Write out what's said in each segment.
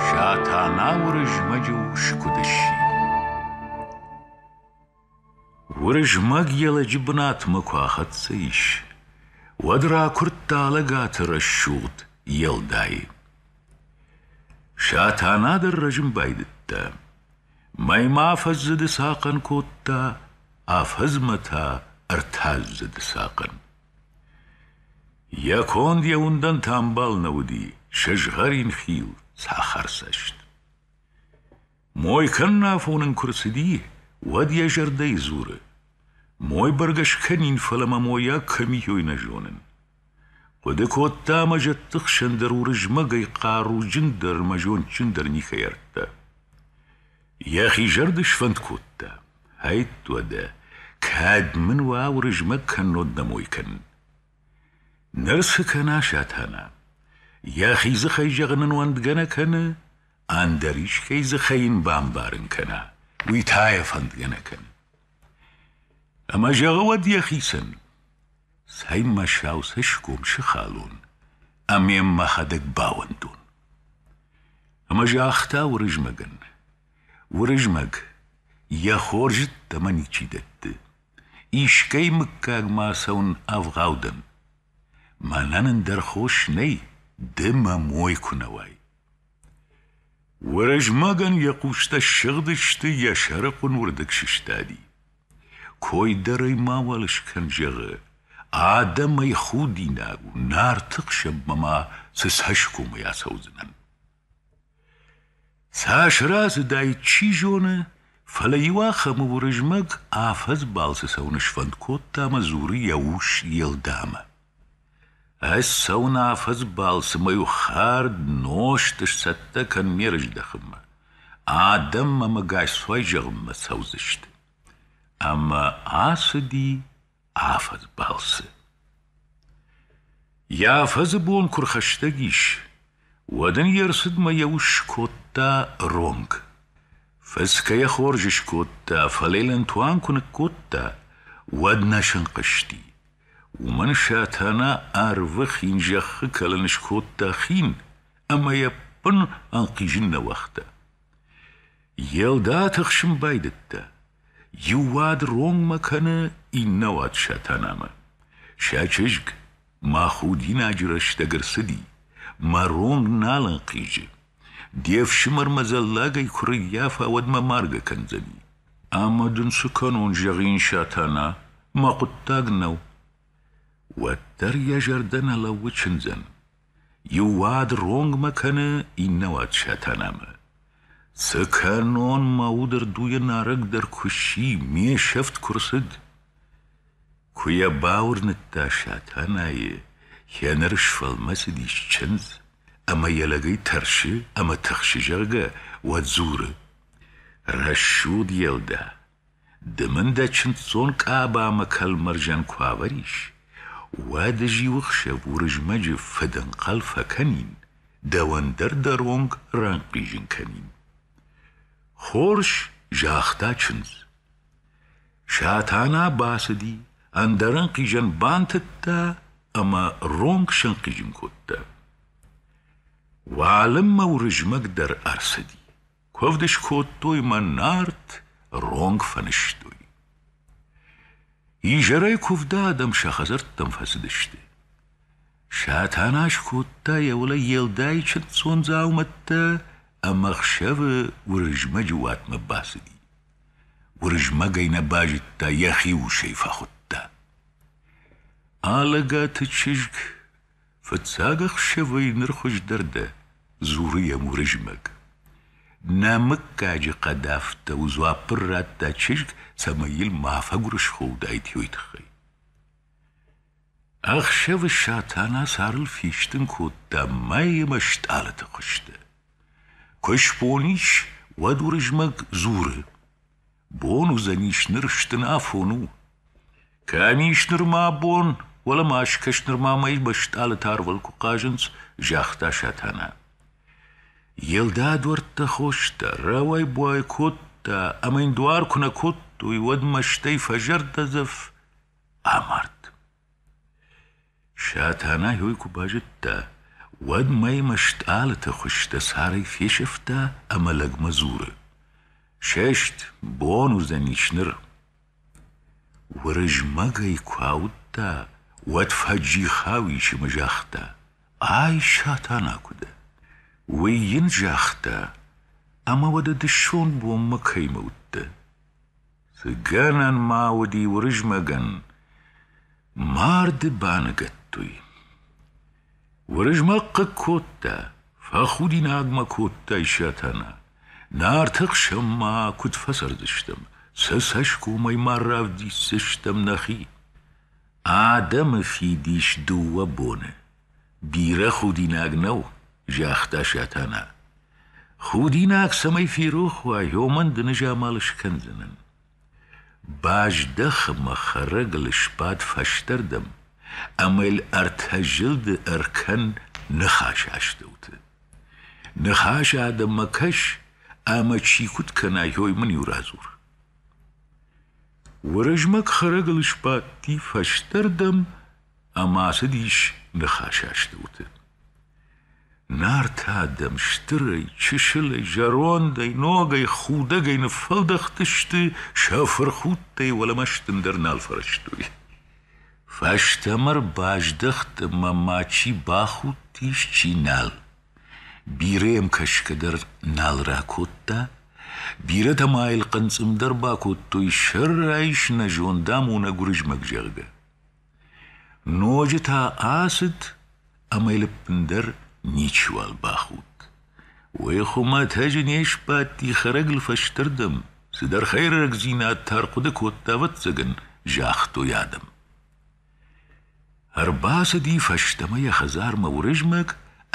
Сатана Уырызмӕджы ус куыд сси? Уырызмӕг йӕ лӕджы бынатмӕ куы ахӕццӕ ис, уӕд ракуырдта лӕгӕты рӕсугъд Елдайы. Сатана дӕр рӕзын байдыдта. Мӕймӕ афӕдзы дысахъӕн кодта, афӕдзмӕ та ӕртӕдзы дысахъӕн. Йӕ конд йӕ уындӕнты ӕмбал нӕ уыди, сызгъӕрин хил, цӕхӕрцӕст. Мой кӕннӕ афон ын куы рцыди, уӕд йӕ зӕрдӕйы дзуры: «Мой бӕргӕ скӕнин, фӕлӕ мӕ мойаг кӕм и, ой нӕ зонын». Хъуыды кодта ӕмӕ зӕдты хсӕн дӕр Уырызмӕгӕй хъаруджындӕр ӕмӕ зондджындӕр никӕй ардта. Йӕхи зӕрды сфӕнд кодта. Ӕйтт уӕдӕ, кӕд мын уӕ Уырызмӕг кӕннод нӕ мой кӕнын! Ныр цы кӕна Сатана? Йӕхи дзыхӕй зӕгъын ын уӕндгӕ нӕ кӕны, ӕндӕр искӕй дзыхӕй йын бамбарын кӕна, уый та йӕ фӕндгӕ нӕ кӕны. Ӕмӕ зӕгъы уӕд йӕхицӕн: Цӕй, мӕ сау цӕсгом сыхалон ӕмӕ йӕм мӕхӕдӕг бауӕндон. Ӕмӕ загъта Уырызмӕгӕн: Уырызмӕг йӕ хорзытӕ мӕ ничи дӕтты. Искӕй мыггагмӕ ацӕуын ӕвгъау дӕн. Мӕнӕн ӕндӕр хос нӕй, ды мӕ мой куы нӕ уай. Уырызмӕгӕн йӕ хъустӕ ссыгъдысты, йӕ сӕрыхъуын уырдыг сыстади. Кой дӕр ӕй мауал скӕн, зӕгъы. Адӕм ӕй худинаг у, нарты хсӕнмӕ ма цы цӕсгомӕй ацӕудзынӕн. Цас рацыдаид, чи зоны, фӕлӕ иу ахӕмы Уырызмӕг афӕдз балцы цӕуын сфӕнд кодта ӕмӕ дзуры йӕ ус Елдамӕ. Ӕз цӕуын афӕдз балцы мӕ иу хӕрд нозт сцӕттӕ кӕнын ме рыздӕхынмӕ. Адӕм мӕ мыгасцуай зӕгъынмӕ цӕудзысты. Ӕмӕ ацыди афӕдз балцы. Йӕ афӕдзы бон куы рхӕстӕг ис, уӕд ын йе рцыдмӕ йӕ ус скодта ронг. Фыцгӕ йӕ хорз скодта, фӕлӕ йыл ӕнтуан куы ныккодта, уӕд нӕ сынхъызти. Уымӕн Сатана арвы хин зӕххы кӕлын скодта хин, ӕмӕ йӕ бын ӕнхъизын нӕ уагъта. Йе лда тыхсын байдыдта. Иу уӕд ронмӕ кӕны, иннӕ уӕд Сатанамӕ. Сӕ чызг мӕ худинаджы рӕстӕг ӕрцыди, мӕ ронг нал ӕнхъизы. Де фсымӕрмӕ зӕллагӕй куы рыййафа, уӕд мӕ маргӕ кӕндзӕни. Ӕмӕ дын цы кӕнон, зӕгъин, Сатана, мӕ хъуыддаг нӕу. Уӕддӕр йӕ зӕрдӕ нӕ лӕууы чындзӕн. Иу уӕд ронгмӕ кӕны, иннӕ уӕд Сатанамӕ. Цы кӕнон, мӕ удырдуйы нарӕг дӕр куы сси, ме сӕфт куы рцыд. Куы йӕ бауырныдта Сатанайы, йӕ ныр сфӕлмӕцыдис чындз, ӕмӕ йӕ лӕгӕй тӕрсы ӕмӕ тыхсы, зӕгъгӕ, уӕд дзуры: «Рӕсугъд Елдӕ, Ды мын дӕ чындздзон къабамӕ кӕлмӕрзӕн куы авӕрис, уӕд зиуы хсӕв Уырызмӕджы фыдӕнхъӕл фӕкӕнин, дӕуӕн дӕр дӕ ронг ранхъизын кӕнин. Хорз, загъта чындз. Сатана бацыди, ӕндӕр ӕнхъизӕн бантыдта ӕмӕ ронг сӕнхъизын кодта. Уалынмӕ Уырызмӕг дӕр ӕрцыди. Куывд скодтой мӕ Нарт ронг фӕнызтой. Изӕрӕй куывды адӕм сӕ хӕдзӕрттӕм фӕцыдысты. Сатана скодта йӕ уылӕй Елдайы чындздзон дзаумӕттӕ ӕмӕ хсӕвы Уырызмӕджы уатмӕ бацыди. Уырызмӕгӕй нӕ базыдта, йӕхи усӕй фӕхуыдта. Алӕгаты чызг Фыццаг ӕхсӕвӕй ныр хуыздӕр дӕ, дзуры йӕм Уырызмӕг. Нӕ мыггаджы хъӕдӕфтӕ у дзуаппыр радта чызг, цӕмӕй йыл ма фӕгуырысхо уыдаид йой тыххӕй. Ӕхсӕвы Сатана сӕрыл фистын кодта мӕй ӕмӕ стъалыты хуызтӕ. Куы сбон ис, уӕд Уырызмӕг дзуры. Бон уыдзӕнис ныр стын афон у. Кӕм ис нырма бон, уӕлӕ ма скӕс нырма мӕй мӕстъӕлыты арвыл куы хъазынц, загъта Сатана. Елда дуӕрттӕ хоста, рауай-буай кодта, ӕмӕ йын дуар куы нӕ кодтой, уӕд мӕстӕй фӕзӕрдӕдзӕф амард. Сатанайы ой куы базыдта, уӕд мӕймӕ стъалыты хуызтӕ сӕрӕй фесӕфта ӕмӕ лӕгмӕ дзуры: «Сест, бон уыдзӕнис ныр!» Уырызмӕгӕй куы ауыдта, уӕд фӕджихау исымы загъта: «Ай Сатана куы дӕ!» Уый йын загъта: «Ӕмӕ уӕдӕ дысон бонмӕ кӕимӕ уыдтӕ?» Цы гӕнӕн ма уыди Уырызмӕгӕн, марды баныгӕдтой. Уырызмӕг хъыг кодта, фӕхудинагмӕ кодта Исатана. Нарты хсӕнмӕ куыд фӕцӕрдзыстӕм, сӕ цӕсгомӕй ма равдисдзыстӕм нӕхи. Адӕмы фидис дыууӕ боны. Бирӕ худинаг нӕу, загъта Сатана. Худинаг цӕмӕй ферох уа, уымӕн ды нызамал скӕндзынӕн. Баздӕх ӕмӕ хӕрӕг ыл сбад фӕстӕрдӕм ӕмӕ йыл ӕртӕ зылды ӕркӕн ныхасы астӕуты. Ныхасы адӕммӕ кӕс, ӕмӕ чи куыд кӕна, уый мын-иу радзур. Уырызмӕг хӕрӕг ыл сбадти фӕстӕрдӕм ӕмӕ ацыдис ныхасастӕуты. Нартӕ адӕм стырӕй, чысылӕй, зӕрондӕй, ногӕй, худӕгӕй ныффӕлдӕхтысты, сӕ фырхудтӕй уӕлӕмӕстын дӕр нал фӕрӕзтой. Фӕстӕмӕ рбаздӕхт ӕмӕ ма чи бахудтис, чи нал. Бирӕ йӕм кӕсгӕ дӕр нал ракодта, бирӕтӕ ма йыл хъынцъым дӕр бакодтой, сӕрӕй снӕзондам уынӕг Уырызмӕг, зӕгъгӕ. Ноджы та ацыд ӕмӕ йыл ӕппындӕр ничиуал бахудт. Уый хуымӕтӕджы не сбадти хӕрӕгыл фӕстӕрдӕм, цыдӕр хӕйрӕгдзинад та ӕрхъуыды кодта, ӕвӕццӕгӕн, загътой адӕм. Ӕрбацыди фӕстӕмӕ йӕ хӕдзармӕ Уырызмӕг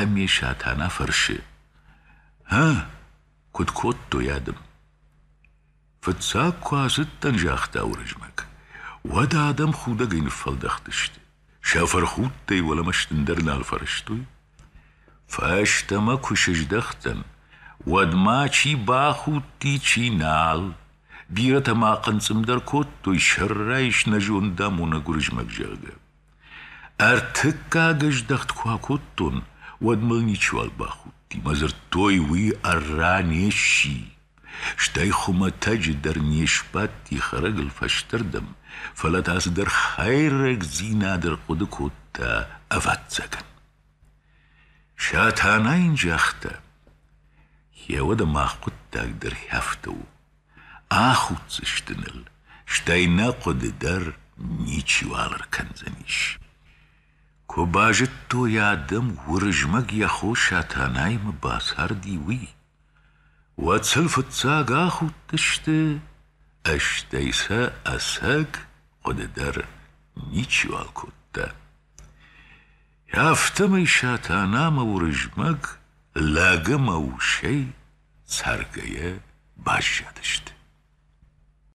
ӕмӕ Сатана фӕрсы: «Ӕ, куыд кодтой адӕм?» Фыццаг куы ацыдтӕн, загъта Уырызмӕг, уӕд адӕм худӕгӕй ныффӕлдӕхтысты. Сӕ фырхудтӕй уӕлӕмӕ стындӕр нал фӕрӕзтой. Фӕстӕмӕ куы сыздӕхтӕн, уӕдмӕ чи бахудти, чи нал. Бирӕтӕ ма хъынцъым дӕр кодтой, сӕрӕй снӕзондамонӕг Уырызмӕг, зӕгъгӕ. Ӕртыккаг ӕздӕхт куы акодтон, уӕд мыл ничиуал бахудти, мӕ дзырдтой, уый ӕрра не сси. Стӕй хуымӕтӕджы дӕр не сбадти хӕрӕгыл фӕстӕрдӕм, фӕлӕ та цыдӕр хӕйрӕгдзинад ӕрхъуыды кодта, ӕвӕццӕгӕн. Сатана йын загъта: «Гъе уӕдӕ мах хъуыддаг дӕр хӕфтӕ у. Ахуддзысты ныл, стӕй нӕ хъуыды дӕр ничиуал ӕркӕндзӕнис. Куы базыдтой адӕм, Уырызмӕг йӕ хо Сатанаймӕ бацарди, уый, уӕд сыл фыццаг ахудтысты, стӕй сӕ ӕцӕг хъуыды дӕр ничиуал кодта. Афтӕмӕй Сатанамӕ Уырызмӕг лӕг ӕмӕ усӕй цӕргӕйӕ баззадысты.